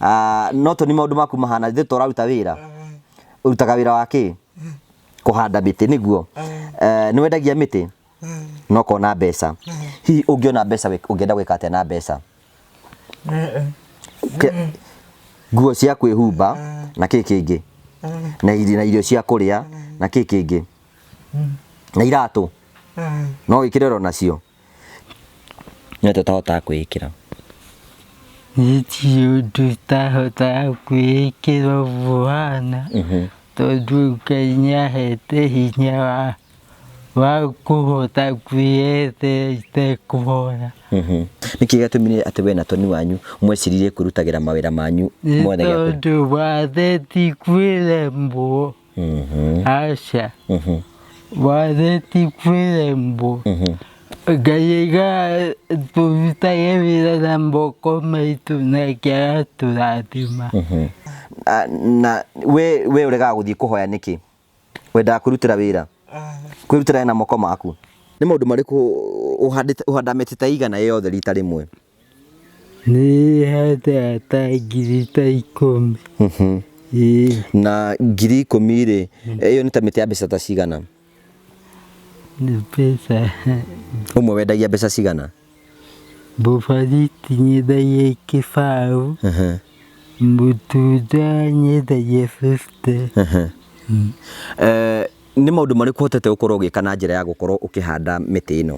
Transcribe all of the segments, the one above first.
Ah, no toni maundu maku mahana ithe to raruta wira urutaga wira wa ki kuhanda miti niguo Eh, ni wendagia miti no kona mbeca hihi ungiona mbeca wek- ungienda gwika atia na mbeca Ke- nguo cia kwĩhumba na kĩ kĩngĩ na iri- na irio cia kũrĩa na kĩ kĩngĩ na iratũ no wĩkĩre oro nacio nĩ atĩa ũtahotaga kwĩĩkĩra Nitie ũndũ itahotaga kwĩĩkĩra ũbuana tondũ Ngai nĩahete hinya wa wa kũhota kwĩyethera itekũhora. nĩ kĩĩ gĩatũmire atĩ we na toni wanyu mweciririe kwĩrutagĩra mawĩra manyu Nĩ mothe gĩa kũrĩ- tondũ watheti kwĩremwo. aca watheti kwĩ rembo ngai aiga tũrutage wĩra na moko maitũ nake agatũrathima Ah, na we we ũregaga gũthiĩ kũhoya nĩkĩ wendaga kwĩrutĩra wĩra kwĩrutĩra wĩra na moko maku nĩ maũndũ marĩkũ ũhandĩte ũhandaga mĩtĩ ta igana ĩ yothe rita rĩmwe Na ngiri ikũmi rĩ, ĩyo nĩ ta mĩtĩ ya mbeca ta cigana? Ũmwe wendagia mbeca cigana? Mũbariti nyendagia kĩbaũ, mũtunda nyendagia bĩbute. Nĩ maũndũ marĩkũ ũhotete gũkorwo ũgĩka na njĩra ya gũkorwo ũkĩhanda mĩtĩ ĩno?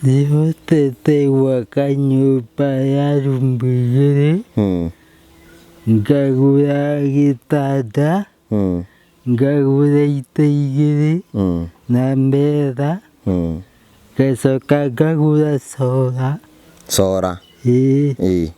Nĩhotete gwaka nyũmba ya rumbu igĩrĩ, Hmm. ngagũra gĩtanda, Hmm. ngagũra itĩ igĩrĩ Hmm. na metha, Hmm. ngacoka ngagũra cora. Cora. Ĩĩ. Ĩĩ.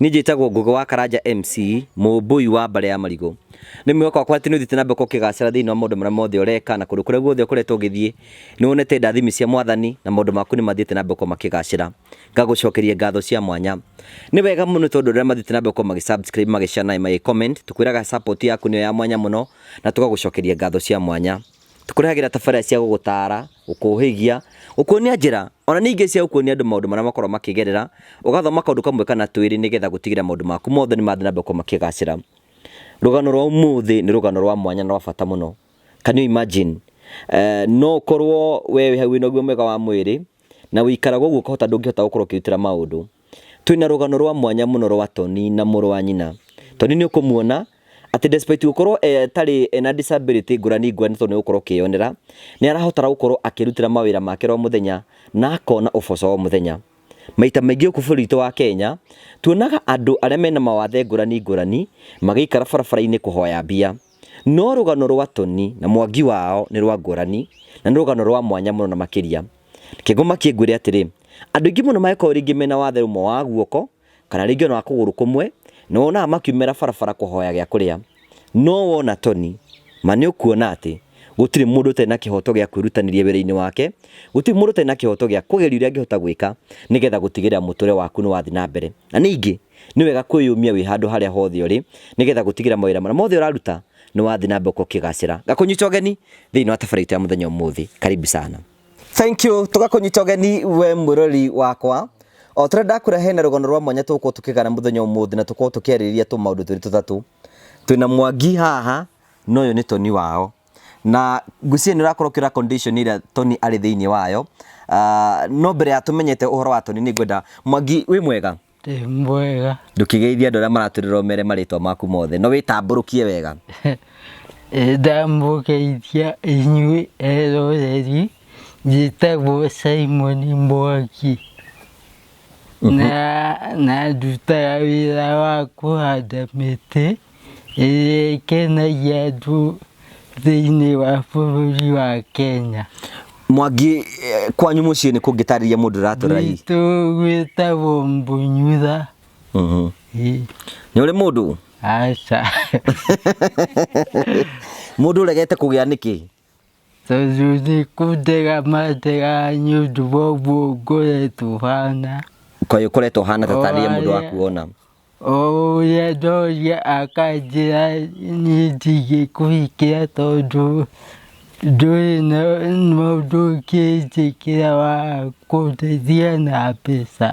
Niĩ njĩtagwo Ngũgĩ wa Karanja MC, mũmbũi wa Mbare ya Marigũ. Nĩ mwĩhoko wakwa atĩ nĩ ũthiĩte na mbere ũkĩgacĩra thĩinĩ wa maũndũ marĩa mothe ũreka na kũndũ kũrĩa guothe ũkoretwo ũgĩthiĩ nĩ wonete ndathimi cia Mwathani na maũndũ maku nĩ mathiĩte na mbere gũkorwo makĩgacĩra. Ngagũcokeria ngatho cia mwanya. Nĩ wega mũno tondũ rĩrĩa mathiĩte na mbere gũkorwo magĩ subscribe, magĩ share na magĩ comment, tũkwĩraga support yaku nĩyo ya mwanya mũno na tũgagũcokeria ngatho cia mwanya. Tũkũrehagĩra tabarĩra cia gũgũtaara, gũkũũhĩgia, gũkuonia njĩra, o na ningĩ cia gũkuonia andũ maũndũ marĩa makoragwo makĩgerera, ũgathoma kaũndũ kamwe kana twĩrĩ nĩ getha gũtigĩrĩra maũndũ maku mothe nĩ mathiĩ na mbere gũkorwo makĩgacĩra. Rũgano rwa ũmũthĩ nĩ rũgano rwa mwanya na rwa bata mũno. Can you imagine? No ũkorwo we wĩ hau wĩ na ũgima mwega wa mwĩrĩ, na ũikaraga ũguo ũkahota ndũngĩhota gũkorwo ũkĩĩrutĩra maũndũ. Twĩ na rũgano rwa mwanya mũno rwa Tony na mũrũ wa nyina. Tony nĩ ũkũmuona atĩ despite gũkorwo atarĩ ena disability ngũrani ngũrani tondũ nĩ gũkorwo ũkĩyonera, nĩ arahotara gũkorwo akĩrutĩra mawĩra make oro mũthenya na akona ũboco o mũthenya. Maita maingĩ gũkũ bũrũri witũ wa Kenya, tuonaga andũ arĩa mena mawathe ngũrani ngũrani magĩikara barabara-inĩ kũhoya mbia. No rũgano rwa Tony na Mwangi wao nĩ rwa ngũrani na nĩ rũgano rwa mwanya mũno na makĩria. Kĩngoma kĩngwĩre atĩrĩ, andũ aingĩ mũno mangĩkorwo rĩngĩ mena wathe ũmwe wa guoko kana rĩngĩ ona wa kũgũrũ kũmwe, nĩ wonaga makiumĩra barabara kũhoya gĩa kũrĩa. No wona Tony, ma nĩ ũkuona atĩ gũtirĩ mũndũ ũtarĩ na kĩhoto gĩa kwĩrutanĩria wĩra-inĩ wake, gũtirĩ mũndũ ũtarĩ na kĩhoto gĩa kũgeria ũrĩa angĩhota gwĩka nĩgetha gũtigĩrĩra mũtũrĩre waku nĩ wathiĩ na mbere. Na ningĩ, Nĩ wega kwĩyũmia wĩ handũ harĩa hothe ũrĩ nĩ getha gũtigĩra mawĩra marĩa mothe ũraruta nĩ wathiĩ na mbere ũkĩgacĩra. Ngakũnyita ũgeni thĩinĩ wa tabarĩra itũ ya mũthenya ũmũthĩ. Karibu sana. Thank you. Tũgakũnyita ũgeni we mwĩroreri wakwa. O tũrĩa ndakũrehe na rũgano rwa mwanya tũgũkorwo tũkĩgana mũthenya ũmũthĩ na tũkorwo tũkĩarĩrĩria tũmaũndũ twĩrĩ tũtatũ. Twĩna Mwangi haha na ũyũ nĩ Tony wao. Na ngwĩciria nĩ ũrakorwo ũkĩrora condition ĩrĩa Tony arĩ thĩinĩ wayo. No mbere ya tũmenyete ũhoro wa Tony nĩ ngwenda, Mwangi wĩ mwega? Ndĩ mwega. Ndũkĩgeithie andũ arĩa maratũrĩra ũmere marĩtwa maku mothe. No wĩtambũrũkie wega. Ĩ, Ndamũgeithia inyuĩ eroreri, njĩtagwo Simon Mwangi. Na, na ndutaga wĩra wa kũhanda mĩtĩ. Ĩĩ ĩkenagia andũ thĩinĩ wa bũrũri wa Kenya. Mwangi, eh, kwanyu mũciĩ nĩ kũngĩtarĩria mũndũ ũratũra hihi? Gwitũ gwĩtagwo Mbunyutha. Mhm. Ĩĩ, Nĩ ũrĩ mũndũ? Aca. Mũndũ ũregete kũgĩa nĩkĩ? tondũ nĩ kũndega mandega nĩ ũndũ wa ũguo ngoretwo hana Kaĩ ũkoretwo hana ta tarĩria mũndũ wa kuona. o ũrĩa ndoria akanjĩra niĩ ndingĩkũhikĩra tondũ ndũrĩ na mũndũ ũngĩnjĩkĩra wa kũndeithia na mbeca.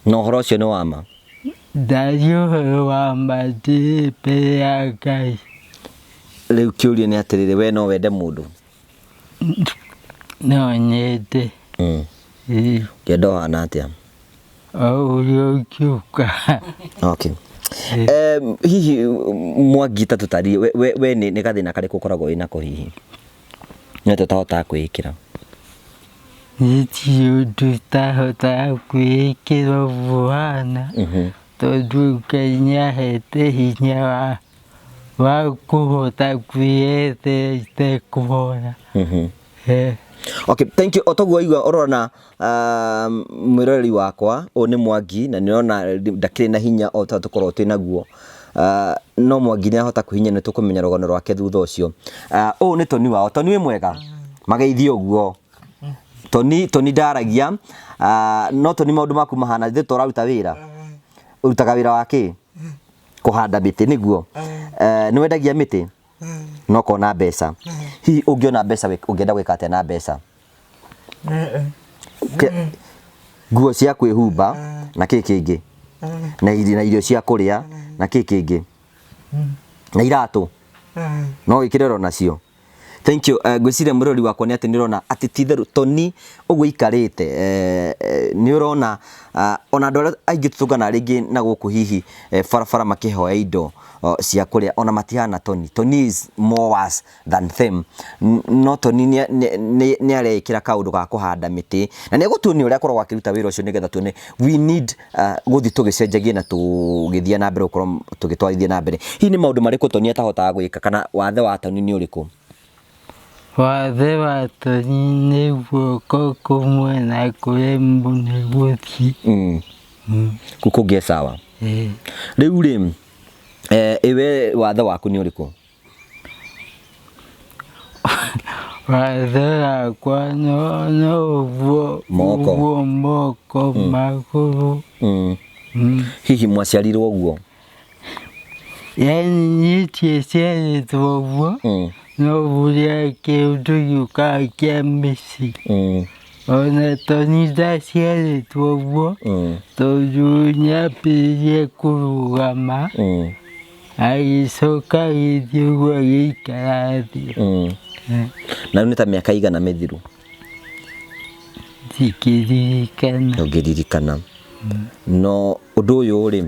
Na ũhoro ũcio nĩ wa ma? Ndariũhũyũ wa matĩĩbĩ ya Ngai. Rĩu kĩũria nĩ atĩrĩrĩ, we no wende mũndũ? No nyende. Mm. Ĩĩ. Ngenda ũhana atĩa? O ũrĩa ũkiuka. Okay. Um, hihi Mwangi ta tũtarire, we, we, we nĩ, nĩ gathĩna karĩkũ ũkoragwo wĩ nako hihi? Nĩ atĩa ũtahotaga kwĩĩkĩra? Gũtirĩ ũndũ itahotaga kwĩĩkĩra ũguo ũhana Mhm. tondũ rĩu Ngai nĩ ahete hinya wa wa kũhota kwĩyethera itekũhoya. Mhm. Eh, Okay, thank you. O toguo waigua ũrona Mwĩroreri wakwa, ũyũ nĩ Mwangi na nĩũrona ndakĩrĩ na hinya o ta ũrĩa tũkoragwo twĩ naguo, no Mwangi nĩahota kwĩhinyia na nĩtũkũmenya rũgano rwake thutha ũcio. Ũyũ nĩ Toni wao. Toni wĩ mwega? Mageithie ũguo. Toni, Toni ndaragia, no Toni maũndũ maku mahana atĩa? Nĩ ta ũraruta wĩra? Ũrutaga wĩra wa kĩ? Kũhanda mĩtĩ, nĩguo? Nĩwendagia mĩtĩ? no kona mbeca hihi ũngĩona mbeca wĩ- ũngĩenda gwĩka atĩa na mbeca Ke- nguo cia kwĩhumba na kĩ kĩngĩ na iri- na irio cia kũrĩa na kĩ kĩngĩ na iratũ no wĩkĩre oro nacio thank you uh, ngwĩciria mũrori wakwa nĩ atĩ nĩ ũrona atĩ ti itherũ toni ũguo ikarĩte eh, eh, nĩ ũrona ah, ona andũ arĩa aingĩ tũtũngana rĩngĩ na gũkũ hihi eh, barabara makĩhoya indo o, cia kũrĩa ona matihana Tony. Tony is more worse than them. N- No Tony nĩ- nĩ- nĩ- nĩ areĩkĩra kaũndũ ga kũhanda mĩtĩ na nĩ egũtuonia ũrĩa akoragwo akĩruta wĩra ũcio nĩgetha tuone we need uh, gũthiĩ tũgĩcenjagie na tũgĩthiĩ na mbere gũkorwo tũgĩtwarithia na mbere. Hihi nĩ maũndũ marĩkũ Tony atahotaga gwĩka kana wathe wa Tony nĩ ũrĩkũ? Wathe watoni nĩ guoko kumwe na kũrĩ mũnĩ gũthi. Mm. Kuko ge sawa. Eh. Rĩu rĩ eh, iwe wathe waku nĩ ũrĩkũ? Wathe wakwa no no ũguo Moko. ũguo moko magũrũ. Mm. Mm. Hihi mwaciarirwo ũguo? yani tiesiaĩtwo ũguo Mm, novuria kĩũndũ gĩũkaa kĩa mĩci mm, ona toni ndaciarĩtwo ũguo mm, tondũ nyambĩrĩrie kũrũgama mm, agĩcoka gĩthiĩ ũguo agĩikara thĩ mm. na rĩu nĩ ta mĩaka igana mĩthiru Ndingĩririkana. Ndũngĩririkana. No ũndũ ũyũ rĩ,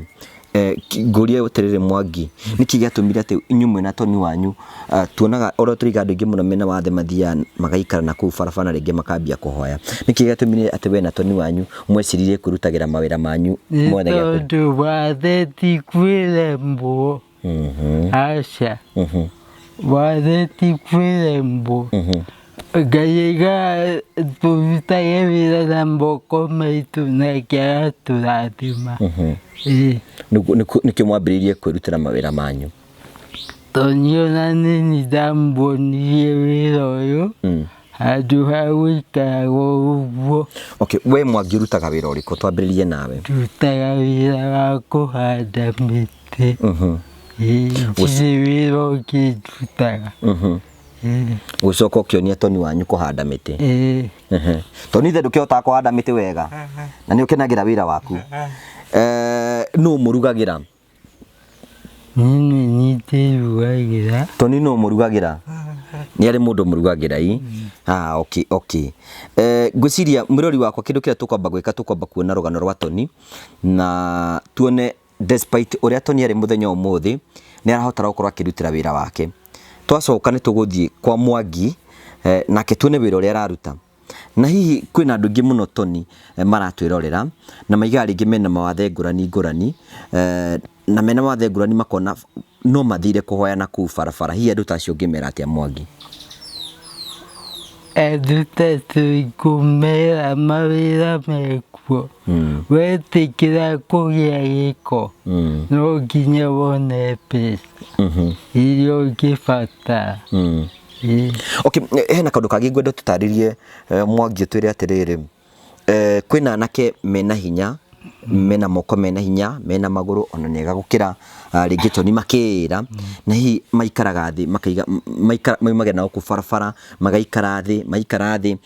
eh, ki- ngũrie atĩrĩrĩ Mwangi, nĩkĩ gĩatũmire atĩ inyuĩ mwĩna Tony wanyu ah, tuonaga oro tũrĩga andũ aingĩ mũno mena wathe mathiaga magaikara na kũu barabara na rĩngĩ makambia kũhoya. Nĩkĩ gĩatũmire atĩ we na Tony wanyu mweciririe kwĩrutagĩra mawĩra manyu Nĩ mwene gĩaku? tondũ wathe ti kwĩremwo. aca watheti kwĩ rembo ngai aiga tũrutage wĩra na moko maitũ nake agatũrathima Ĩĩ. nĩkĩo mwambĩrĩirie kwĩrutĩra mawĩra manyu tondũ niĩ ona nĩ nĩ ndambonirie wĩra ũyũ handũ ha gũikara ũguo. Okay, we Mwangi ũrutaga wĩra ũrĩkũ? Twambĩrĩrie nawe. Ndutaga wĩra wa kũhanda mĩtĩ. Mhm. Ndirĩ wĩra ũngĩ ndutaga. Mhm. Gũcoka ũkĩonia Toni wanyu kũhanda mĩtĩ. Toni ithe ndũkĩhotaga kũhanda mĩtĩ wega na nĩ ũkenagĩra wĩra waku. Eh, nũ mũrugagĩra? Nini nyitĩirwo waigĩra. Toni nũ mũrugagĩra? Nĩ arĩ mũndũ mũrugagĩra i? Ah, okay, okay. Eh, ngwĩciria mwĩrori wakwa kĩndũ kĩrĩa tũkwamba gwĩka tũkwamba kuona rũgano rwa Toni na tuone despite ũrĩa Toni arĩ mũthenya ũmũthĩ nĩ arahota gũkorwo akĩrutĩra wĩra wake. Twacoka nĩ tũgũthiĩ kwa Mwangi eh, nake tuone wĩra ũrĩa araruta. Na hihi kwĩna andũ aingĩ mũno toni eh, maratwĩrorera na maigaga rĩngĩ mena mawathe ngũrani ngũrani eh, na mena mawathe ngũrani makona no mathire kũhoya na kũu barabara hihi andũ ta acio ũngĩmera atĩa mwangi andũ ta tũikũmera mawĩra mekuo wetĩkĩra kũgĩa gĩko Mm. no nginya wone mbeca Mhm. iria ũngĩbatara Mm. Okay, hena kaũndũ kangĩ ngwenda tũtarĩrie Mwangi ũtwĩre atĩrĩrĩ, kwĩna anake mena hinya, mena moko mena hinya, mena magũrũ ona nĩ ega gũkĩra rĩngĩ Toni makĩĩra, na hihi maikaraga thĩ makaiga, maikara, maumagĩra na gũkũ barabara magaikara thĩ, maikara thĩ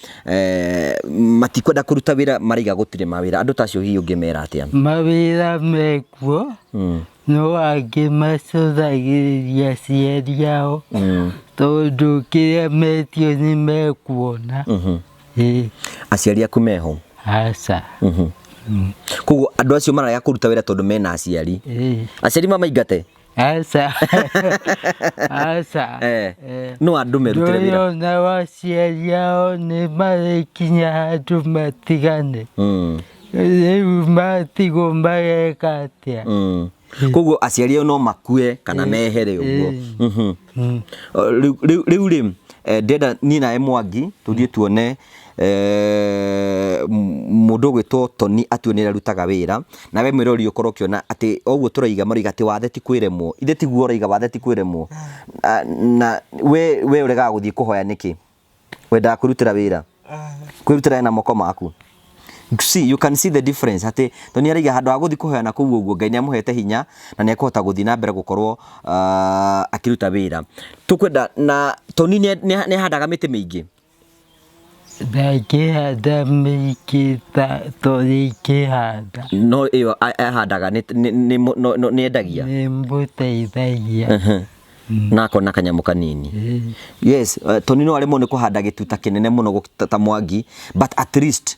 matikwenda kũruta wĩra maraiga gũtirĩ mawĩra, andũ ta acio hihi ũngĩmera atĩa? Mawĩra mekuo, No angĩ macũthagĩrĩria aciari ao tondũ kĩrĩa metio nĩ mekuona. Ĩĩ, aciari aku meho aca. koguo andũ acio mararega kũruta wĩra tondũ mena aciari Ĩĩ, aciari mamaingate aca. Aca. Eh, Eh. no andũ merutĩre wĩra Ndũyũ na aciari ao nĩ marĩkinya handũ matigane. Mm. matigwo mageka atia Mm. koguo aciari ao no makue kana mehere ũguo Mhm. Mm. Rĩu- rĩu rĩu rĩ eh, ndenda niĩ nawe mwangi tũthiĩ tuone eh, m- mũndũ ũgwĩtwo toni atue nĩ arutaga wĩra nawe mwĩrori ũkorwo ũkĩona atĩ oguo tũraiga maroiga atĩ wathe ti kwĩremwo ithe tiguo ũraiga wathe ti kwĩremwo Ah, na we we ũregaga gũthiĩ kũhoya nĩkĩ wendaga kwĩrutĩra wĩra kwĩrutĩra na moko maku see you can see the difference atĩ to nĩ araiga handũ ha gũthiĩ kũhoyana kũu ũguo ngai nĩ amũhete hinya na nĩ ekũhota gũthiĩ na mbere gũkorwo ah, akĩruta wĩra tũkwenda na toni nĩ nĩ- nĩ ahandaga mĩtĩ mĩingĩ ndakĩhanda mĩingĩ ta tondũ ikĩhanda no ĩyo a- ahandaga nĩ- nĩ- nĩ- no- no- nĩ endagia nĩ mũteithagia na akona kanyamũ kanini yes uh, toni no aremwo nĩ kũhanda gĩtuta kĩnene mũno gũkita- ta mwangi but at least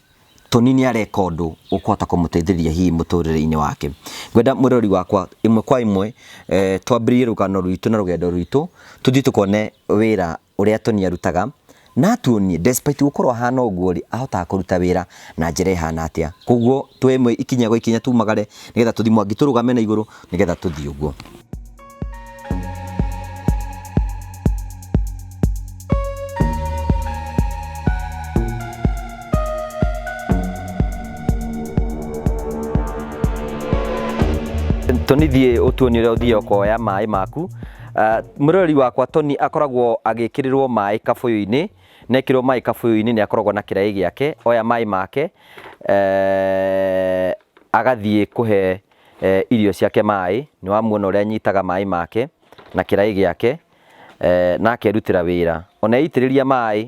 toni nĩ areka ũndũ ũkũhota kũmũteithĩrĩria hihi mũtũrĩre-inĩ wake ngwenda mwĩrori wakwa ĩmwe kwa ĩmwe eh, twambĩrĩrie rũgano rwitũ na rũgendo rwitũ tũthiĩ tũkone wĩra ũrĩa Tony arutaga, na atuonie despite gũkorwo ahana ũguo rĩ, ahotaga kũruta wĩra na njĩra ĩhana atĩa. Koguo tuoe ĩmwe ikinya gwa ikinya tumagare nĩgetha tũthiĩ Mwangi tũrũgame na igũrũ nĩgetha tũthiĩ ũguo. Tony thiĩ ũtuonie ũrĩa ũthiaga ũkoya maĩ maku. Uh, mũrori wakwa Tony akoragwo agĩkĩrĩrwo maĩ kabũyũ-inĩ na ekĩrwo maĩ kabũyũ-inĩ nĩ akoragwo na kĩraĩ gĩake oya maĩ make eh, agathiĩ kũhe eh, irio ciake maĩ nĩ wamuona ũrĩa anyitaga maĩ make na kĩraĩ gĩake eh, na akerutĩra wĩra ona eitĩrĩria maĩ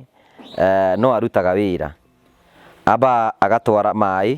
eh, no arutaga wĩra amba agatwara maĩ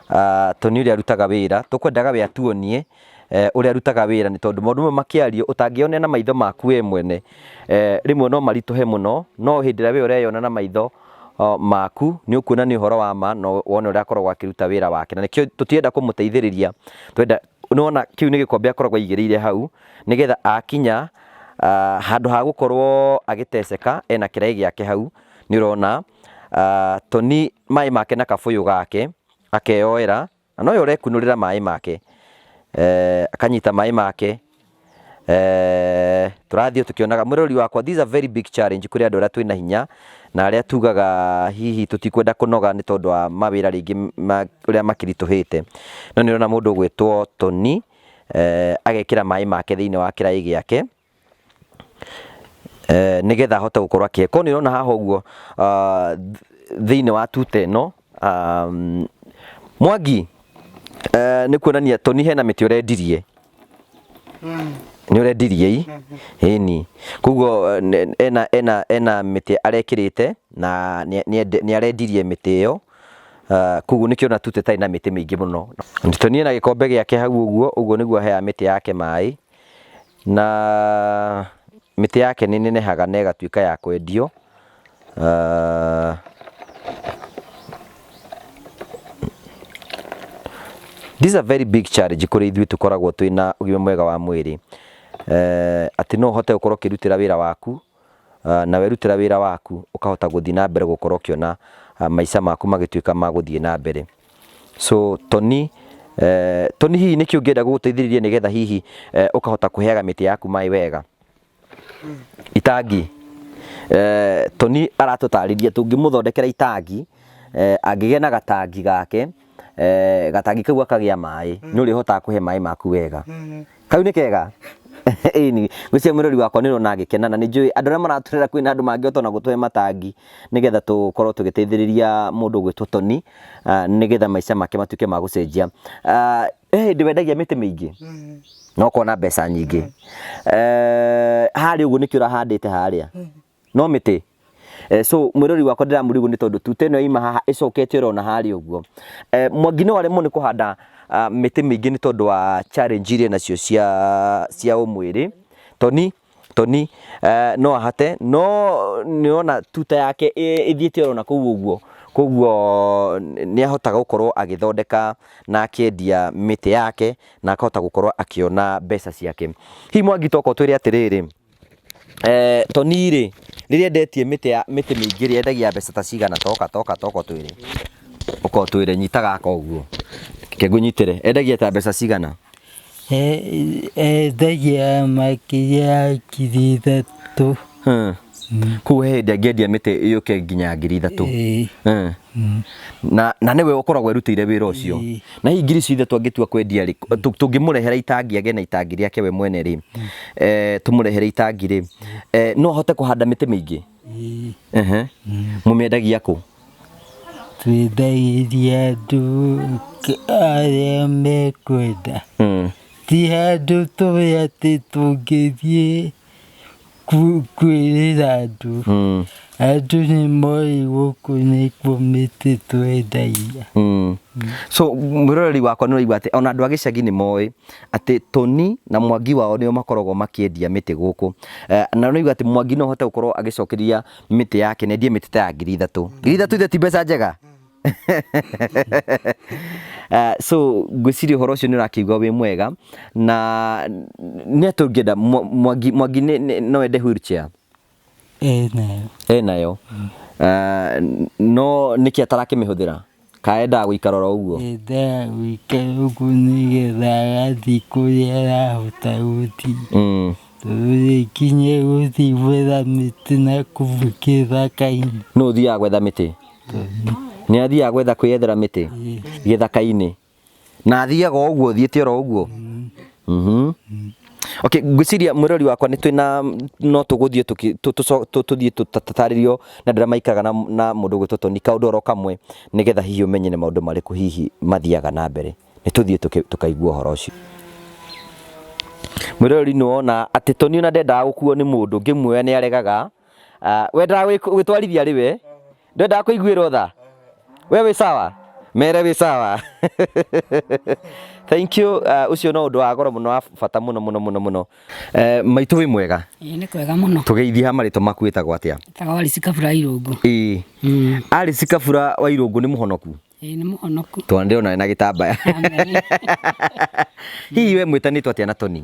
Ah, Tony ũrĩa arutaga wĩra, tũkwendaga we atuonie eh, ũrĩa arutaga wĩra nĩ tondũ maũndũ mamwe makĩario ũtangĩyonera na maitho maku we mwene eh, rĩmwe no maritũhe mũno, no hĩndĩ ĩrĩa we ũreyona na maitho oh, maku nĩ ũkuona nĩ ũhoro wa ma na wone ũrĩa akoragwo akĩruta wĩra wake na nĩkĩo tũtirenda kũmũteithĩrĩria twenda nĩwona kĩu nĩ gĩkombe akoragwo aigĩrĩire hau nĩgetha akinya ah, handũ ha gũkorwo agĩteceka ena kĩraĩ gĩake hau nĩ ũrona ah, Tony maĩ make na kabũyũ gake akeyoera na noyo ũrekunũrĩra maĩ make eh, akanyita maĩ make eh, tũrathiĩ tũkĩonaga mũrori wakwa these are very big challenge kũrĩ andũ arĩa twĩna hinya na arĩa tugaga hihi tũtikwenda kũnoga nĩ tondũ wa mawĩra rĩngĩ ma- ũrĩa makiritũhĩte no nĩ ũrona mũndũ ũgwĩtwo Tony eh, agekĩra maĩ make thĩinĩ wa kĩraĩ gĩake eh, nĩgetha ahote gũkorwo akĩhe koguo nĩ ũrona haha ũguo ah, th- thĩinĩ wa tuta ĩno ah, mm, mwangi eh, nĩ kuonania toni hena mĩtĩ ũrendirie nĩ ũrendirie i ĩni koguo eh, ne- ena ena ena mĩtĩ arekĩrĩte na nĩ- nĩ ende- nĩ arendirie mĩtĩ ĩyo Ah, koguo nĩkĩo na tuta ĩtarĩ na mĩtĩ mĩingĩ mũno toni ena gĩkombe gĩake hau ũguo ũguo nĩguo aheaga mĩtĩ yake maĩ Na mĩtĩ yake nĩ nenehaga na ĩgatuĩka ya kwendio. Ah, This is a very big challenge kũrĩ ithuĩ tũkoragwo twĩna ũgima mwega wa mwĩrĩ. Eh, atĩ no ũhote gũkorwo ũkĩrutĩra wĩra waku na werutĩra wĩra waku ũkahota gũthiĩ na mbere gũkorwo ũkĩona maica maku magĩtuĩka ma gũthiĩ na mbere. So Toni, eh, Toni hihi nĩkĩ ũngĩenda gũgũteithĩrĩria nĩgetha hihi eh, ũkahota kũheaga mĩtĩ yaku maĩ wega? Itangi. Eh, Toni aratũtarĩria tũngĩmũthondekera itangi, eh, angĩgĩa na gatangi gake, eh, gatangi kau akagĩa maĩ mm. nĩ ũrĩhotaga kũhe maĩ maku wega mm. kau nĩ kega ĩni gwĩcia mũrori wakwa nĩ ũrona agĩkena na nĩ njũĩ andũ arĩa maratũrera kwĩ na andũ mangĩhota ona gũtũhe matangi nĩgetha tũkorwo tũgĩteithĩrĩria mũndũ gwĩtwo toni ah, nĩgetha maica make matuĩke ma gũcenjia ah, he hĩndĩ wendagia mĩtĩ mĩingĩ mm. na ũkona mbeca nyingĩ mm. eh, harĩa ũguo nĩkĩ ũrahandĩte harĩa mm. no mĩtĩ Eh, so mwirori wakwa ndiramurigu ni tondu tuta ino yaima haha icokete ro na hari uguo eh, mwangi no aremwo ni kuhanda uh, miti mingi ni tondu wa challenge iria nacio cia cia umwiri toni toni uh, no ahate no ni ona tuta yake ithiete ro na kuu uguo koguo ni ahotaga gukorwo agithondeka na akiendia miti yake na akahota gukorwo akiona mbeca ciake hi mwangi toko twire atiriri Toni rĩ, rĩrĩa endetie mĩtĩ ya mĩtĩ mĩingĩ rĩ, endagia mbeca ta cigana? Ta ũka ta ũka ta ũka ũtwĩre, ũka ũtwĩre, nyita gaka ũguo, reke ngũnyitĩre. Endagia ta mbeca cigana? Endagia makĩria ya ngiri ithatũ. Kũguo he hĩndĩ angĩendia mĩtĩ yũke nginya ngiri ithatũ? Na na nĩwe ũkoragwo erutĩire wĩra ũcio? na hihi ngiri ciothe twangĩtua kwendia rĩ tũ- tũngĩmũrehera itangi agĩe na itangi rĩake we mwene rĩ eh, tũmũrehere itangi rĩ eh, no ahote kũhanda mĩtĩ mĩingĩ Ĩĩ, Ehe. mũmĩendagia kũ twendagĩria andũ k- arĩa mekwenda Mm. ti handũ tũĩ atĩ tũngĩthiĩ kwĩrĩra andũ Mm, andũ nĩ moĩ gũkũ nĩkuo mĩtĩ twendagia mm. so mwĩroreri wakwa nĩ ũraigua atĩ ona andũ a gĩcagi nĩ moĩ atĩ toni na mwangi wao nĩo makoragwo makĩendia mĩtĩ gũkũ Eh, na ũraigua atĩ mwangi no ahote gũkorwo agĩcokeria mĩtĩ yake na endie mĩtĩ ta ya ngiri ithatũ ngiri ithatũ ithe ti mbeca njega uh, so ngwĩciria ũhoro ũcio nĩ ũrakĩigua wĩ mwega na nĩ atĩ ũngĩenda Mwa- mwangi mwangi nĩ- nĩ- no wende wheelchair ĩ nayo e nayo uh, no nĩkĩ atarakĩmĩhũthĩra ka endaga gũikara oro ũguo enda wike ũguo nĩgetha agathiĩ kũrĩa arahota gũthiĩ Mm. tondũ rĩkinye gũthiĩ gwetha mĩtĩ na kũu gĩthaka-inĩ no ũthiaga gwetha mĩtĩ nĩ athiaga gwetha kwĩyethera mĩtĩ gĩthaka-inĩ na athiaga o ũguo thiĩte oro ũguo Mhm. Okay, ngwĩciria mwĩrori wakwa nĩ twĩna no tũgũthiĩ tũki- tũ- tũco- tũ- tũthiĩ tũtarĩrio na ndĩra maikaraga na, na mũndũ ũgwĩtwo Tony kaũndũ oro kamwe nĩgetha hihi ũmenye nĩ maũndũ marĩkũ hihi mathiaga na mbere nĩ tũthiĩ tũki- tũkaigua ũhoro ũcio mwĩrori nĩ wona atĩ Tony ona ndendaga gũkuo nĩ mũndũ ngĩmuoya nĩ aregaga Ah, wendaga gwĩ- gwĩtwarithia rĩ we ndwendaga kũiguĩrwo tha we wĩ sawa mere wĩ sawa thank you ah, ũcio no ũndũ wa goro mũno wa bata mũno mũno mũno mũno Eh, maitũ wĩ mwega Ĩĩ, nĩ kwega mũno tũgeithie ha marĩtwa maku wĩtagwo atĩa taga wari cikabura irũngu ĩĩ Mm. arĩ cikabura wa irũngũ nĩ mũhonoku Ĩĩ, nĩ mũhonoku tondũ ndĩrona na gĩtambaya Amen. hihi we mwĩtanĩtwo atĩa na toni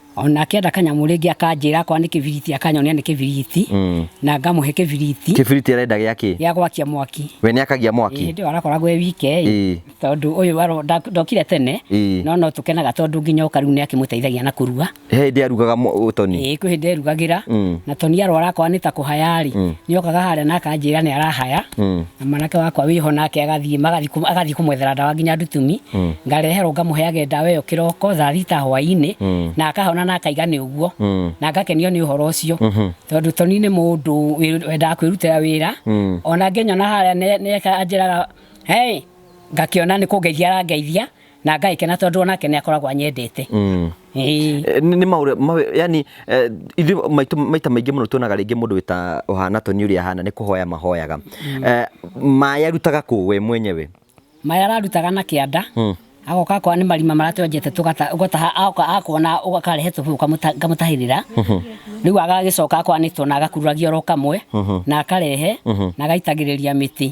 ona akĩenda kanyamũ rĩngĩ akanjĩra akorwo nĩ kĩbiriti akanyonia nĩ kĩbiriti Mm. na ngamũhe kĩbiriti kĩbiriti arenda gĩa kĩ gĩa gwakia mwaki we nĩ akagia mwaki hĩndĩ ĩyo arakoragwo e wike Ĩĩ. tondũ ũyũ aro- nda- ndokire tene Ĩĩ. no no tũkenaga tondũ nginya oka rĩu nĩ akĩmũteithagia na kũruga he hĩndĩ arugaga mũ- ũtoni ĩĩ kwĩ hĩndĩ erugagĩra Mm. na toni arwara akorwo nĩ ta kũhaya rĩ nĩ okaga harĩa na akanjĩra nĩ arahaya Mm. na mwanake wakwa wĩho nake agathiĩ magathiĩ kũ- agathiĩ kũmwethera ndawa nginya ndutumi Mm. ngareherwo ngamũheage ndawa ĩyo kĩroko thaa thita hwaĩ-inĩ Mm. na akahona na akaiga nĩ ũguo Mm. na ngakenio nĩ ũhoro ũcio Mhm. tondũ toni nĩ mũndũ wĩ- wendaga kwĩrutĩra wĩra Mm. ona ngenyona harĩa nĩ- nĩeka anjĩraga hey ngakĩona nĩ kũngeithia arangeithia na ngagĩkena tondũ o nake nĩ akoragwo anyendete Mm. Ĩĩ. Eh, nĩ nĩ maũrĩa mawe- yani eh, ithuĩ maitũ- maita maingĩ mũno tuonaga rĩngĩ mũndũ wĩta ũhana toni ũrĩa ahana nĩ kũhoya mahoyaga Eh, maĩ arutaga kũ we mwenyewe maya ararutaga na kĩanda Mm. agoka akorwo nĩ marima maratwenjete tũgata- ũgataha agoka akona ũkarehe tũbĩu kamũta- ngamũtahĩrĩra rĩu agagĩcoka akorwo nĩ twana agakururagia oro kamwe na akarehe na agaitagĩrĩria mĩtĩ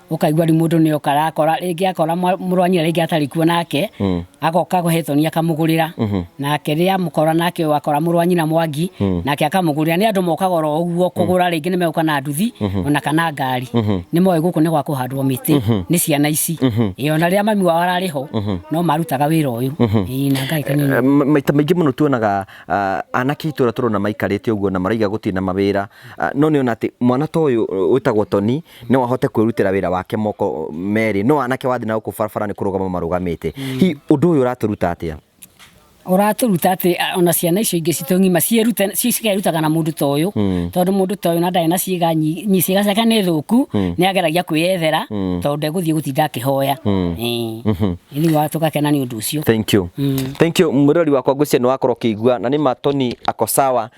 ukaigua ri mundu ni oka arakora ringi akora murwanyira ringi atari kuo nake mm. agoka guhethoni akamugurira mm-hmm. nake ria mukora nake wakora murwanyira mwangi mm. nake akamugurira ni andu mokaga ro uguo mm. kugura ringi ni meuka na nduthi mm-hmm. ona kana ngari mm-hmm. ni moe guku ni gwa kuhandwo miti ni ciana ici iyo na ria mami wao arari ho no marutaga wira uyu na ngai kanyina eh, maita maingi muno tuonaga ah, anake itura turona maikarite uguo na maraiga gutina mawira ah, no ni ona ati mwana toyu witagwo toni no ahote kwĩrutĩra wĩra wake moko merĩ no anake wathiĩ na gũkũ barabara nĩ kũrũgama marũgamĩte hihi ũndũ ũyũ ũratũruta atĩa ũratũruta atä ona ciana icio ingä citå ng'ima ciĩrute- ci- cikerutaga na må ndå ta å yå tondå må ndå ta å yå na ndarä na ciĩga nyi- nyi- ciĩga ciake nä thå ku nä ageragia kwä yethera tondå ndegå thiä gå tinda akä hoya ithuä wa tå gakena nä å ndå å cio thank you thank you mwirori wakwa ngwĩciria nĩ wakorwo ũkĩigua na nĩ matoni ako sawa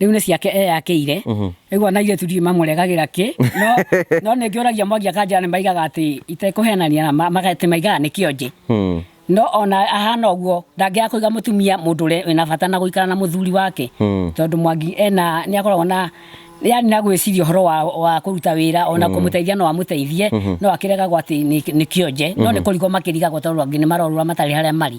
rĩu nĩ ciake eyakĩire ĩgua na airĩtu ndirĩ mamũregagĩra kĩ no no nĩ ngĩũragia mwangi akanjĩra nĩ maigaga atĩ itekũhenania na ma- maga- atĩ maigaga nĩ kĩonje Hmm. no ona ahana ũguo ndangĩaga kũiga mũtumia mũndũ ũrĩa wĩna bata na gũikara na mũthuri wake Hmm. tondũ mwangi ena nĩ akoragwo na yani na gwĩciria ũhoro wa, wa kũruta wĩra ona kũmũteithia no amũteithie no akĩregagwo atĩ nĩ nĩ kĩonje no nĩ kũrigwo makĩrigagwo tondũ angĩ nĩ marorũra matarĩ harĩa marĩ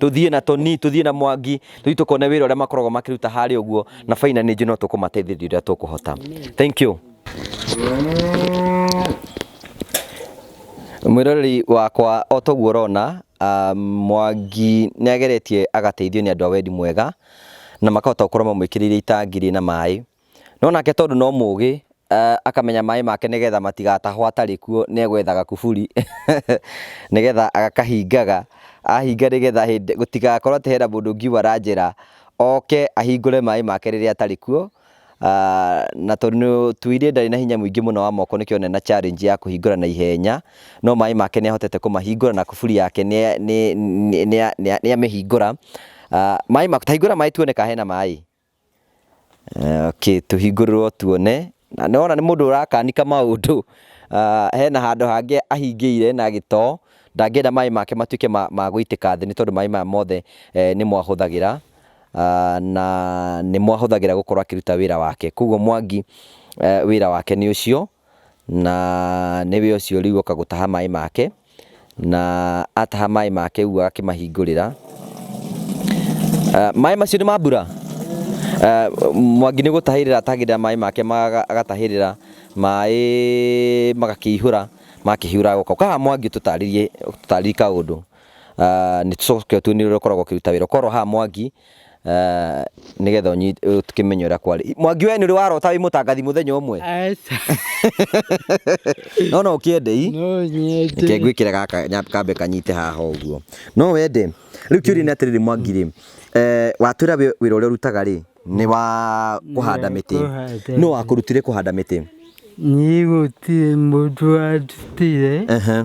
tũthiĩ na toni tũthiĩ na mwangi tũthiĩ tũkone wĩra ũrĩa makoragwo makĩruta harĩa ũguo na baina nĩ njũ no tũkũmateithĩrĩria ũrĩa tũkũhota thank you mwĩroreri wakwa o toguo ũrona ah, mwangi nĩ ageretie agateithio nĩ andũ a wendi mwega na makahota gũkorwo mamwĩkĩrĩire itangi rĩna maĩ No nake tondũ no mũũgĩ, eh, akamenya maĩ make nĩgetha matigatahwo atarĩ kuo, nĩegwethaga kuburi, nĩgetha agakahingaga, ahinga nĩgetha hĩndĩ gũtigakorwo atĩ hena mũndũ ũngiuma na njĩra, oke ahingũre maĩ make rĩrĩa atarĩ kuo, ah, na tondũ nĩ tuuge ndarĩ na hinya mũingĩ mũno wa moko nĩkĩo onire ena challenge ya kũhingũra na ihenya, no maĩ make nĩahotete kũmahingũra na kuburi yake nĩa nĩ nĩa nĩa nĩamĩhingũra, ah, maĩ make, ta hingũra maĩ tuone ka hena maĩ. Okay, tũhingũrĩrwo tuone. Na nĩ wona nĩ mũndũ ũrakanika maũndũ, hena handũ hangĩ ahingĩire na gĩtoo, ndangĩenda maĩ make matuĩke ma ma gũitĩka thĩ nĩ tondũ maĩ maya mothe nĩmo ahũthagĩra, na nĩmo ahũthagĩra gũkorwo akĩruta wĩra wake. Kuoguo Mwangi wĩra wake nĩ ũcio. na nĩwe ũcio rĩu oka gũtaha maĩ make, na ataha maĩ make ũguo agakĩmahingũrĩra. Maĩ macio nĩ ma mbura? Mwangi nĩ gũtahĩrĩra atahagĩrĩra maĩ make agatahĩrĩra maĩ magakĩihũra, makĩihũra agoka. Ũka haha Mwangi ũtũtarĩrie kaũndũ, nĩ tũcoke tuone ũrĩa ũkoragwo ũkĩruta wĩra. Ũka oro haha Mwangi. Ah, nigetha ũnyi- ũkĩmenye ũrĩa kwarĩ mwangi we nĩ ũrĩ warota wĩ mũtangathi mũthenya ũmwe Aca. no no ũkĩende i No reke nyende. ngwĩkĩre gaka nya- kambe kanyite haha ũguo no wende rĩu kĩũria nĩ atĩrĩrĩ mwangi rĩ eh, watwĩra wĩ- wĩra ũrĩa ũrutaga rĩ nĩ wa kũhanda Nĩ wa mĩtĩ kũhanda no wakũrutire kũhanda mĩtĩ Niĩ gũtirĩ mũndũ wandutire. Ehe.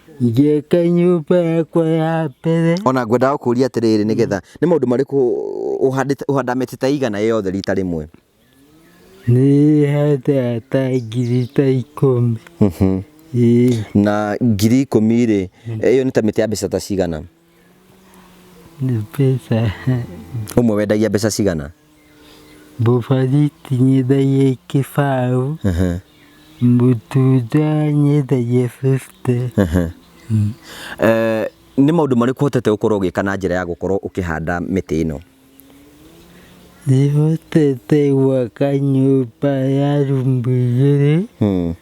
Njĩke nyũmba yakwa ya mbere. ona ngwendaga gũkũria atĩrĩrĩ nĩ getha nĩ maũndũ marĩkũ ũhandĩte- ũhanda mĩtĩ ta igana yothe rita rĩmwe Nĩ handaga ta ngiri ta ikũmi. Ĩĩ. na ngiri ikũmi rĩ ĩyo nĩ ta mĩtĩ ya mbeca ta cigana Pesa Ũmwe wendagia mbeca cigana? Bobariti nyendagia kĩbaũ, Ehe, mũtunda nyendagia 50. ehe. Eh, nĩ maũndũ marĩkũ ũhotete gũkorwo ũgĩka na njĩra ya gũkorwo ũkĩhanda mĩtĩ ĩno? Nĩhotete gwaka nyũmba ya rumu igĩrĩ, Hmm.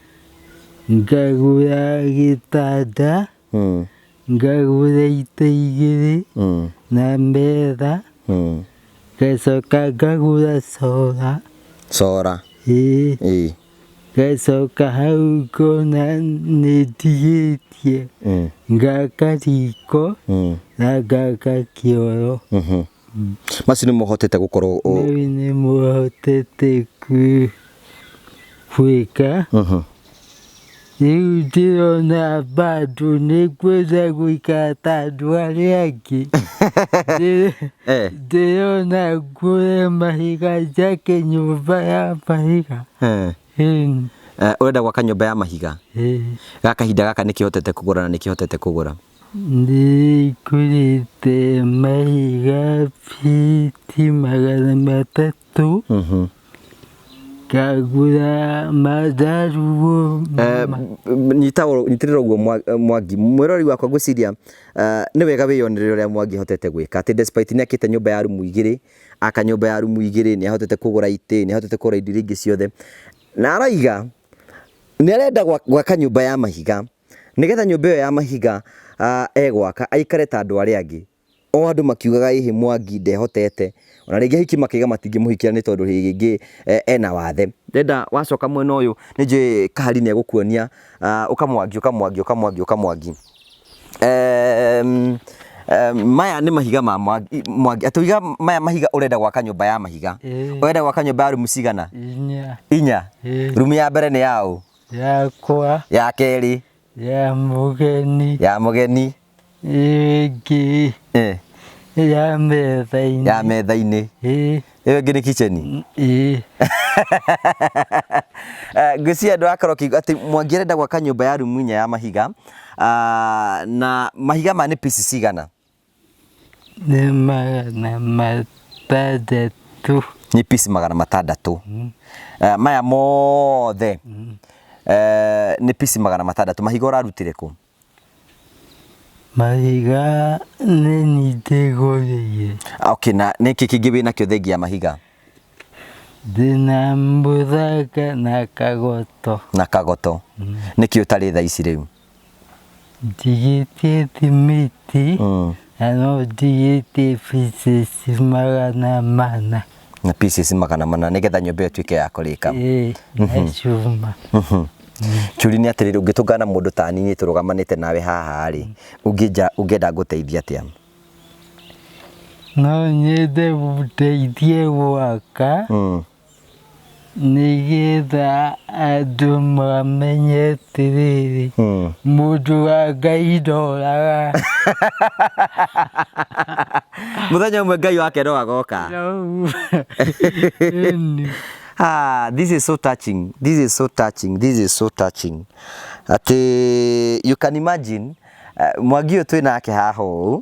ngagũra gĩtanda, Mm. ngagũra ita igĩrĩ Mm. na metha Mm. ngacoka ngagũra cora Cora. ĩĩ Ĩĩ. ngacoka hau ngona nĩ ndigĩtie Mm. ngaka riko Mm. na ngaka kĩoro Mhm. macio nĩ mohotete gũkorwo ũ- rĩu nĩ mũhotete ku- gwĩka Mhm. rĩu ndĩrona bado nĩ kwenda gũikara ta andũ arĩa angĩ Ndĩ- Eh. ndĩrona ngũre mahiga njake nyũmba ya mahiga Eh. Ĩĩ, Eh, ũrenda gwaka nyũmba ya mahiga ĩĩ. ga kahinda gaka nĩkĩhotete kũgũra na nĩkĩhotete kũgũra Nĩngũrĩte mahiga biti magana matatũ ngagũra manjaruo Eh, m- nyita ũ- nyitĩrĩra ũguo Mwa- eh, mwangi mwĩrori wakwa ngwĩciria eh, nĩ wega wĩyonereire ũrĩa mwangi ahotete gwĩka atĩ despite nĩ akĩte nyũmba ya rumu igĩrĩ aka nyũmba ya rumu igĩrĩ nĩ ahotete kũgũra itĩ nĩ ahotete kũgũra indo iria ingĩ ciothe na araiga nĩ arenda gwa- gwaka nyũmba ya mahiga Nĩgetha nyũmba ĩyo ya mahiga egwaka aikare ta andũ arĩa angĩ. O andũ makiugaga ĩhĩ Mwangi ndehotete. Ona rĩngĩ ahiki makĩgega matingĩmũhikia nĩ tondũ rĩngĩ ena wathe. Ndenda wacoka mwena ũyũ nĩ njũĩ Kahari nĩ egũkuonia ũka Mwangi, ũka Mwangi, ũka Mwangi, ũka Mwangi. Maya nĩ mahiga ma Mwangi. Atũiga maya mahiga ũrenda gwaka nyũmba ya mahiga. Ũrenda gwaka nyũmba ya rumu cigana? Inya. Inya? Rumu ya mbere nĩ ya ũ? yakwa ya kerĩ ya mũgeni ya mũgeni ĩngĩ eh, ya metha-inĩ ya metha-inĩ ĩ ĩyo ĩngĩ nĩ kitchen ĩ Eh, ngwĩciria andũ akorwo kiuga atĩ mwangi arenda gwaka nyũmba ya rumu inya ya mahiga Ah, na mahiga ma nĩ pieces cigana Nĩ magana matandatũ. Nĩ piece magana matandatũ. Eh, Maya mothe eh, nĩ piece magana matandatũ. Mahiga ũrarutire kũ? Mahiga nĩ nyingĩ gũrĩire. Ah, Okay, na nĩkĩ kĩngĩ wĩ nakĩo thengia ya mahiga? Ndĩna mũthanga na kagoto. Na kagoto. Nĩkĩ ũtarĩ thaa ici rĩu? Njigĩtĩti mĩtĩ Mm. na no njigĩte pieces magana mana na pieces magana mana nĩgetha nyũmba ĩyo ĩtuĩke ya kũrĩka ĩĩ na cuma kiuri nĩ atĩrĩrĩ ũngĩtũngana na mũndũ ta niĩ tũrũgamanĩte nawe haha rĩ ũngĩnja ũngĩenda ngũteithia atĩa no nyende gũteithie gwaka Mm. nĩgetha andũ mamenye atĩrĩrĩ mũndũ wa ngai ndoraga muthenya umwe ngai wake no agoka Ah, this is so touching. This is so touching. This is so touching. Ati you can imagine uh, Mwagi ũyũ twĩ nake haha ũũ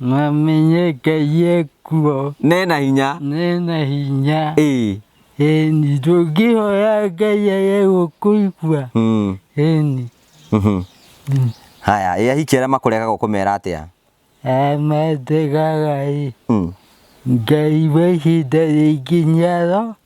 Mamenye Ngai ekuo. Nena hinya. Nena hinya. Ĩĩ. Ĩni ndũngĩhoya Ngai age gũkũigua. Mm. Ĩni. Mhm. Mm. Haya, ĩ ahiki arĩa makũregaga ũkũmera atĩa? Ametegaga ĩ. Mm. Ngai wa ihinda rĩngĩ nĩaro.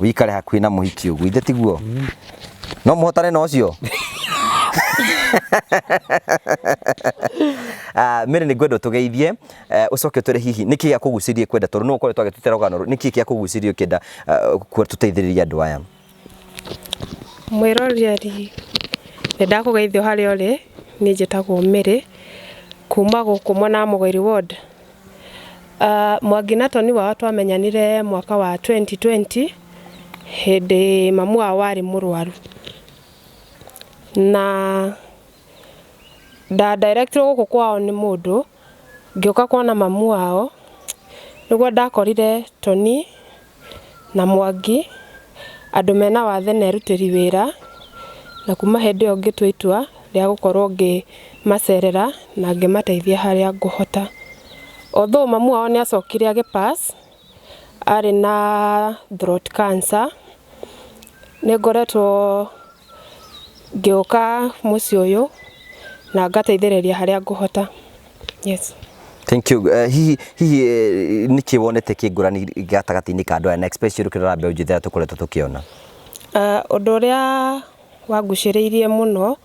wikare hakuhĩ na mũhiki ũguo ithe tiguo no mũhotane na ũcio Ah, mĩrĩ nĩ ngwenda ũtũgeithie eh, ũcoke ũtwĩre hihi nĩ kĩĩ gĩakũgucĩrie kwenda tondũ nĩ ũkoretwo agĩtutera rũgano rũrũ, nĩ kĩĩ gĩakũgucĩrie ũkĩenda ah, kuo tũteithĩrĩrie andũ aya mwĩroreri nĩ ndakũgeithio harĩa ũrĩ niĩ njĩtagwo mĩrĩ kuma gũkũ mwena wa mũgori ward Uh, mwangi na toni wao twamenyanire mwaka wa 2020 hindi mamu wao wari murwaru na ndadirectirwo guku kwao ni mundu ngiuka kuona mamu wao niguo ndakorire toni na Mwangi, andũ mena wathe na erutĩri wĩra, na kuma hĩndĩ ĩyo ngĩtua itua rĩa gũkorwo ngĩmacerera na ngĩmateithia harĩa ngũhota. Although mamu wao nĩ acokire agĩ pass arĩ na throat cancer, nĩ ngoretwo ngĩũka mũciĩ ũyũ na ngateithĩrĩria harĩa ngũhota. Yes. Thank you. Eh, hihi hihi eh, nĩkĩ wonete kĩngũrani gatagatĩ-inĩ ka andũ aya na express yũrũ kĩrora mbeũ njĩthĩ ĩrĩa tũkoretwo tũkĩona Ah, Ũndũ ũrĩa wangucĩrĩirie mũno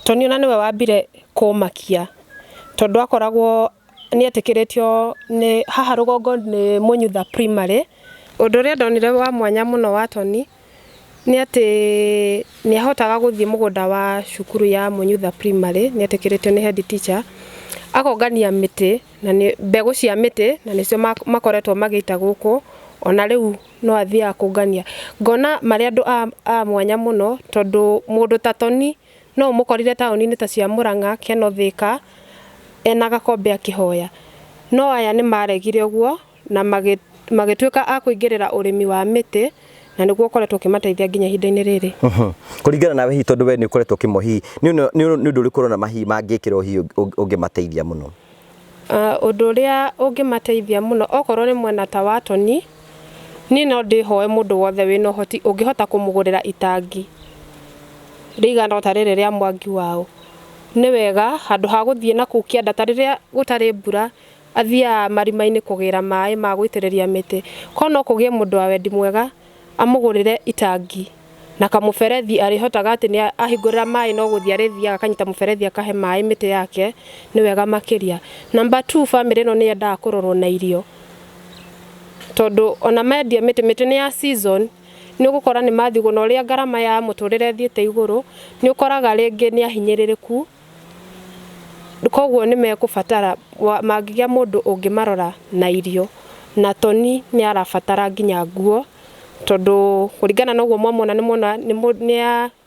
Tony ona nĩwe wambire kũmakia tondũ akoragwo nĩetĩkĩrĩtio nĩ haha rũgongo nĩ Mũnyutha Primary. Ũndũ ũrĩa ndonire wa mwanya mũno wa Tony Nĩ atĩ nĩ ahotaga gũthiĩ mũgũnda wa cukuru ya Mũnyutha Primary, nĩ etĩkĩrĩtio nĩ head teacher, akongania mĩtĩ, na nĩ mbegũ cia mĩtĩ, na nĩcio makoretwo magĩita gũkũ, ona rĩu no athiaga kũngania. Ngona marĩ andũ a mwanya mũno, tondũ mũndũ ta Toni no ũmũkorire taũni-inĩ ta cia Mũrang'a, Kenol, Thĩka, ena gakombe akĩhoya. No aya nĩ maregire ũguo. na magĩtuĩka a kũingĩrĩra ũrĩmi wa mĩtĩ na nĩguo ũkoretwo ũkĩmateithia nginya ihinda-inĩ rĩrĩ. Kũringana nawe hihi tondũ we nĩ ũkoretwo ũkĩmo hihi nĩ ũndũ ũrĩkũ ũrona hihi mangĩkĩrwo hihi ũngĩmateithia mũno? Ũndũ ũrĩa ũngĩmateithia mũno okorwo nĩ mwena ta wa toni, niĩ no ndĩhoe mũndũ wothe wĩna ũhoti ũngĩhota kũmũgũrĩra itangi rĩigana ota rĩrĩ rĩa Mwaki Waũ, nĩ wega handũ ha gũthiĩ nakũu kĩanda ta rĩrĩa gũtarĩ mbura Athiaga marimainĩ kũgĩra maaĩ ma gũitĩrĩria mĩtĩ, korwo no kũgĩe mũndũ wa wendi mwega amũgũrĩre itangi na kamũberethi arĩhotaga atĩ nĩ ahingũrĩra maaĩ no gũthiĩ arĩthiaga akanyita mũberethi akahe maaĩ mĩtĩ yake nĩ wega makĩria. Number two bamĩrĩ ĩno nĩ yendaga kũrorwo na irio, tondũ ona mendia mĩtĩ, mĩtĩ nĩ ya season nĩ ũgũkora nĩ mathigũna ũrĩa ngarama ya mũtũrĩre ĩthiĩte igũrũ nĩ ũkoraga rĩngĩ nĩ ahinyĩrĩrĩku. Koguo nĩ mekũbatara, mangĩgĩa mũndũ ũngĩmarora na irio. Na Toni nĩ arabatara nginya nguo, tondũ kũringana na ũguo mwamuona nĩ muona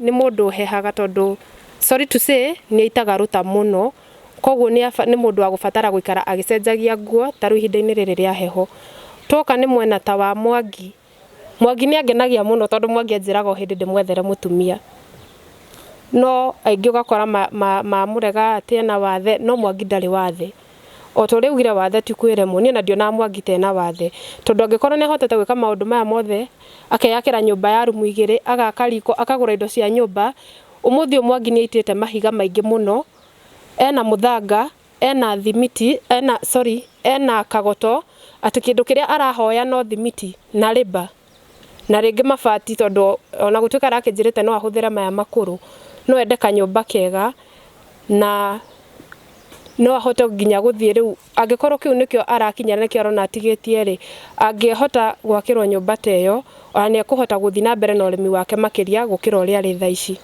nĩ mũndũ ũhehaga tondũ sorry to say nĩ aitaga rũta mũno. Koguo nĩ mũndũ wa gũbatara gũikara agĩcenjagia nguo ta rĩu ihinda-inĩ rĩrĩ rĩa heho. Twoka nĩ mwena ta wa Mwangi, Mwangi nĩ angenagia mũno tondũ Mwangi anjĩraga o hĩndĩ ndĩmwethere mũtumia. No aingĩ ũgakora mamũrega atĩ ena wathe, no Mwangi ndarĩ wathe. O ta ũrĩa augire wathe ti kwĩremwo, niĩ ona ndionaga Mwangi ta ena wathe. Tondũ angĩkorwo nĩ ahotete gwĩka maũndũ maya mothe, akeyakĩra nyũmba ya rumu igĩrĩ, agaka riko, akagũra indo cia nyũmba, ũmũthĩ ũyũ Mwangi nĩ aitĩte mahiga maingĩ mũno, ena mũthanga, Ena thimiti, ena, sorry, ena kagoto, atĩ kĩndũ kĩrĩa arahoya no thimiti, na rĩmba, na rĩngĩ mabati tondũ ona gũtuĩka arakĩnjĩrĩte no ahũthĩre maya makũrũ, no ende kanyũmba kega, na no ahote nginya gũthiĩ rĩu angĩkorwo kĩu nĩkĩo arakinya na nĩkĩo arona atigĩtie rĩ, angĩhota gwakĩrwo nyũmba ta ĩyo, ona nĩ ekũhota gũthiĩ na mbere na ũrĩmi wake makĩria gũkĩra ũrĩa arĩ thaa ici.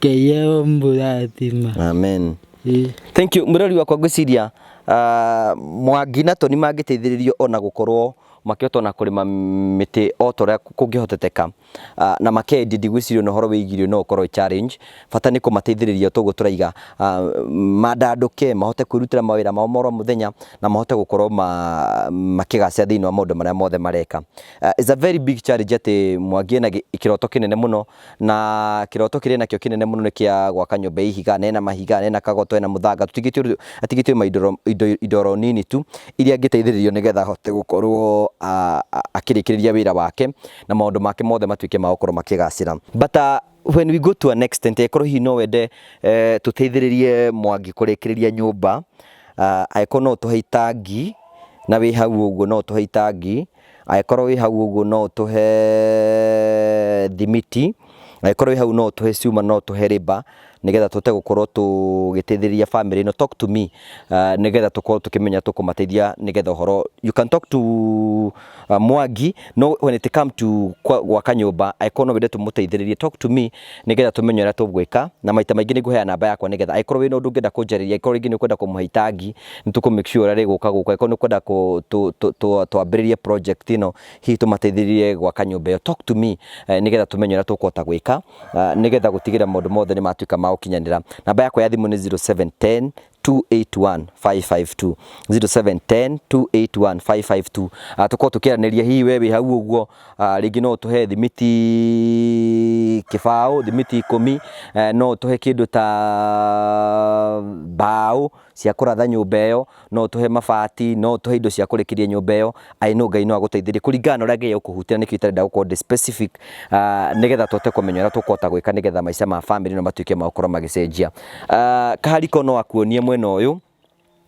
Keyeo mburathima. Amen. Ĩ. Thank you. Mwĩrori wakwa ngwĩciria ah, Mwangi na Toni mangĩteithĩrĩrio ona gũkorwo makĩhota ona kũrĩma mĩtĩ o ta ũrĩa kũngĩhoteteka Ah, na makendia ndigwĩciria ona ũhoro wĩgiĩ irio no ũkorwo wĩ challenge. Bata nĩ kũmateithĩrĩria ta ũguo tũraiga ah, mandandũke mahote kwĩrutĩra mawĩra mao ma oro mũthenya na mahote gũkorwo ma- makĩgacĩra thĩinĩ wa maũndũ marĩa mothe mareka. Ah, It's a very big challenge atĩ Mwangi ena gĩ- kĩroto kĩnene mũno Na kĩroto kĩrĩ nakĩo kĩnene mũno nĩ kĩa gwaka nyũmba ya ihiga, na ĩna mahiga, na ĩna kagoto, ĩna mũthanga, tũtigĩtio rĩu, atigĩtio maindo indo indo oro nini tu, iria angĩteithĩrĩrio nĩgetha ahote gũkorwo akĩrĩkĩrĩria wĩra wake, na maũndũ make mothe matuĩke ma gũkorwo makĩgacĩra. But when we go to an extent angĩkorwo hihi no wende tũteithĩrĩrie Mwangi kũrĩkĩrĩria nyũmba, angĩkorwo no ũtũhe itangi, na wĩ hau ũguo no ũtũhe itangi, Angĩkorwo wĩ hau ũguo no ũtũhe thimiti, angĩkorwo wĩ hau no ũtũhe cuma, no ũtũhe rĩba nĩgetha tũhote gũkorwo tũgĩteithĩrĩria family ĩno. Talk to me nĩgetha tũkorwo tũkĩmenya tũkũmateithia nĩgetha ũhoro. You can talk to Mwangi when it come to gwaka nyũmba, angĩkorwo no wende tũmũteithĩrĩrie, talk to me. nĩgetha tũmenye ũrĩa tũgwĩka, na maita maingĩ nĩ ngũheana namba yakwa nĩgetha angĩkorwo wĩna ũndũ ũngĩenda kũnjarĩria, angĩkorwo rĩngĩ nĩ ũkwenda kũmũhe itangi, nĩ tũkũ make sure ũrĩa rĩgũka gũkũ, angĩkorwo nĩ ũkwenda twambĩrĩrie project ĩno, hihi tũmateithĩrĩrie gwaka nyũmba ĩyo, talk to me nĩgetha tũmenye ũrĩa tũkũhota gwĩka, nĩgetha gũtigĩrĩra maũndũ mothe nĩ matuĩka ma gũkinyanĩra. Namba yakwa ya thimũ nĩ zero, seven, ten, 281-552-0710-281-552 Ah, tũkorwo tũkĩaranĩria hihi we wĩ hau ũguo ah, rĩngĩ no ũtũhe thimiti kĩbaũ thimiti ikũmi eh, no ũtũhe kĩndũ ta mbaũ cia kũratha nyũmba ĩyo no ũtũhe mabati no ũtũhe indo cia kũrĩkĩria nyũmba ĩyo I know Ngai no agũteithĩrie kũringana na ũrĩa Ngai agũkũhutia, na nĩkĩo itarenda gũkorwo ndĩ specific, ah, nĩgetha tũhote kũmenya ũrĩa tũkũhota gwĩka nĩgetha maica ma family ĩno matuĩke ma gũkorwo magĩcenjia. Ah, kahari ko no akuonie mwena ũyũ,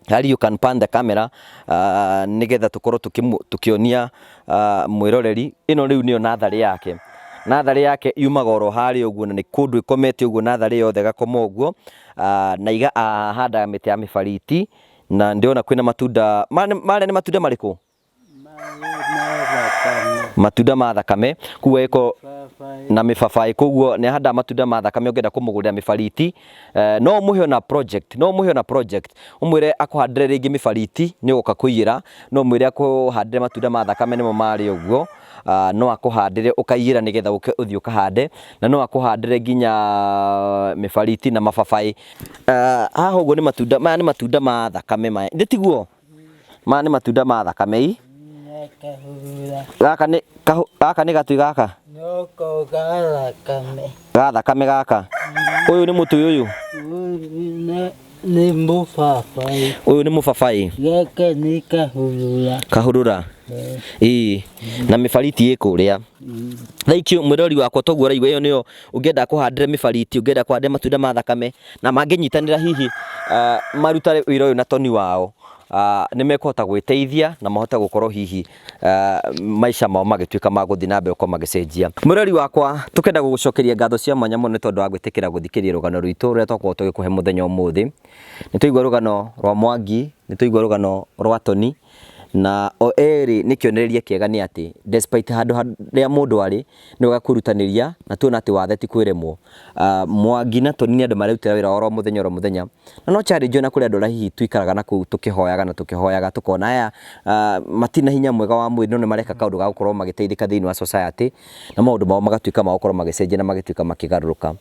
Hari you can pan the camera ah, nĩgetha tũkorwo tũkĩmu- tũkĩonia ah, mwĩroreri. Ĩno rĩu nĩyo natharĩ yake. Natharĩ yake yumaga oro harĩa ũguo na nĩ kũndũ ĩkomete ũguo natharĩ yothe ĩgakoma ũguo, ah, na iga- ahandaga mĩtĩ ya mĩbariti, Na ndĩrona kwĩna matunda ma- marĩa nĩ matunda marĩkũ? Matunda ma thakame. Kuo ĩko na mĩbabaĩ koguo nĩ ahandaga matunda ma thakame ũngĩenda kũmũgũrĩra mĩbariti eh, no ũmũhe ona project no ũmũhe ona project ũmwĩre akũhandĩre rĩngĩ mĩbariti nĩ ũgũka kũiyĩra no ũmwĩre akũhandĩre matunda ma thakame nĩmo marĩ ũguo Ah, no akũhandĩre ũkaiyĩra nĩgetha ũke ũthiĩ ũkahande na no akũhandĩre nginya mĩbariti na mababaĩ Ah, haha ũguo nĩ matunda maya nĩ matunda ma thakame maya nĩ tiguo maya nĩ matunda ma thakame i Kahura. gaka nĩ kahũ- gaka nĩ gatui gaka No kogara kame. ga thakame gaka ũyũ nĩ mũtui ũyũ Ne ne mufafae. ũyũ nĩ mũbabaĩ Gaka ni kahura. kahũrũra ĩĩ na mĩbariti ĩ kũrĩa thaikio mwĩrori wakwa toguo ũraigua ĩyo nĩyo ũngĩenda kũhandĩre mĩbariti, ũngĩenda kũhandĩre matunda ma thakame, na mangĩnyitanĩra hihi marute wĩra ũyũ na toni wao, nĩ mekũhota gwĩteithia na mahote gũkorwo hihi maica mao magĩtuĩka ma gũthiĩ na mbere gũkorwo magĩcenjia. Mwĩrori wakwa, tũkenda gũgũcokeria ngatho cia mwanya mũno nĩ tondũ wa gwĩtĩkĩra gũthikĩria rũgano rwitũ rũrĩa twakorwo tũgĩkũhe mũthenya ũmũthĩ. Nĩ twaigua rũgano rwa Mwangi, nĩ twaigua rũgano rwa Toni, Na o erĩ nĩ kĩonereria kĩega nĩ atĩ, despite handũ harĩa mũndũ arĩ, nĩ wega kwĩrutanĩria na tuona atĩ wathe ti kwĩremwo. Mwangi na Toni nĩ andũ marerutĩra wĩra wao oro mũthenya oro mũthenya, na no challenge o na kũrĩ andũ arĩa hihi tũikaraga na kũu tũkĩhoyaga na tũkĩhoyaga tũkona aya matirĩ na hinya mwega wa mwĩrĩ no nĩ mareka kaũndũ ga gũkorwo magĩteithĩka thĩinĩ wa society na maũndũ mao magatuĩka ma gũkorwo magĩcenjia na magĩtuĩka makĩgarũrũka.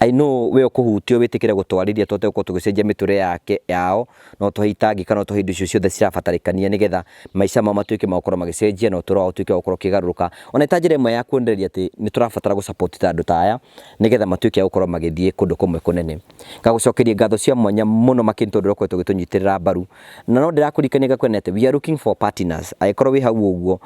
I know we ũkũhutio wĩtĩkĩre gũtwarĩria tũhote gũkorwo tũgĩcenjia mĩtũrĩre yake yao na ũtũhe itangĩka na ũtũhe indo icio ciothe cirabatarĩkania nĩgetha maica mao matuĩke ma gũkorwo magĩcenjia na ũtũro wao ũtuĩke wa gũkorwo ũkĩgarũrũka ona ĩta njĩra ĩmwe ya kuonereria atĩ nĩtũrabatara gũ support ta andũ ta aya nĩgetha matuĩke a gũkorwo magĩthiĩ kũndũ kũmwe kũnene. Ngagũcokeria ngatho cia mwanya mũno makĩria nĩtondũ ũrakoretwo ũgĩtũnyitĩrĩra mbaru na no ndĩrakũririkania ngakwĩra atĩ we are looking for partners angĩkorwo wĩ hau ũguo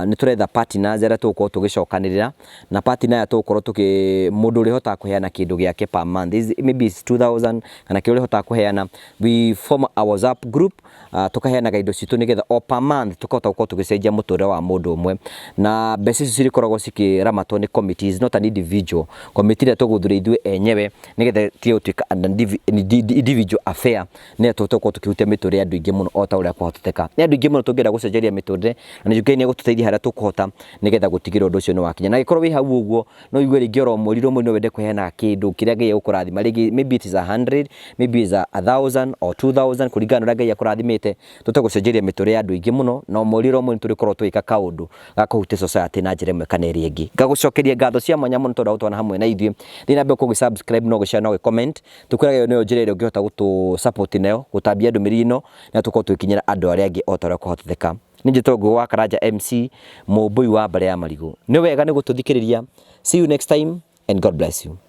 nĩtũretha partners arĩa tũgũkorwo tũgĩcokanĩrĩra na party naya tũgũkorwo tũkĩ mũndũ ũrĩhotaga kũheana kĩndũ gĩake per month is maybe it's 2000 kana kĩrĩa ũrĩhotaga kũheana we form a WhatsApp group uh, tũkaheanaga indo citũ nĩgetha o per month tũkahota gũkorwo tũgĩcenjia mũtũrĩre wa mũndũ ũmwe na mbeca icio cirĩkoragwo cikĩramatwo nĩ committee is not an individual committee ĩrĩa tũgũthura ithuĩ enyewe nĩgetha tige gũtuĩka an indivi- indi- individual affair nĩgetha tũhote gũkorwo tũkĩhutia mĩtũrĩre ya andũ aingĩ mũno o ta ũrĩa kwahoteka nĩ andũ aingĩ mũno tũngĩenda gũcenjeria mĩtũrĩre na nĩ Ngai nĩ egũtũteithia harĩa tũkũhota nĩgetha gũtigĩrĩra ũndũ ũcio nĩ wakinya. Na angĩkorwo wĩ hau ũguo, no ũigue rĩngĩ oro mweri oro mweri no wende kũheana kĩndũ kĩrĩa Ngai egũkũrathima. Rĩngĩ maybe it is a hundred, maybe is a thousand or two thousand kũringana na ũrĩa Ngai akũrathimĩte. Tũhote gũcenjeria mĩtũrĩre ya andũ aingĩ mũno, na o mweri oro mweri nĩtũrĩkorwo tũgĩka kaũndũ ga kũhutia society na njĩra ĩmwe kana ĩrĩa ĩngĩ. Ngagũcokeria ngatho cia mwanya mũno tondũ wa gũtwarana hamwe na ithuĩ. Thiĩ na mbere gũkorwo ũgĩ subscribe na ũgĩ share na ũgĩ comment. Tũkwĩraga ĩyo nĩyo njĩra ĩrĩa ũngĩhota gũtũ support nayo, gũtambia ndũmĩrĩri ĩno, na tũkorwo tũgĩkinyĩra andũ arĩa angĩ o ta ũrĩa kwahotetheka. Nĩ Njĩto Ngũgũ wa Karanja MC, Mũmbũi wa Mbare ya Marigũ. Nĩ wega nĩ gũtũthikĩrĩria. See you next time and God bless you.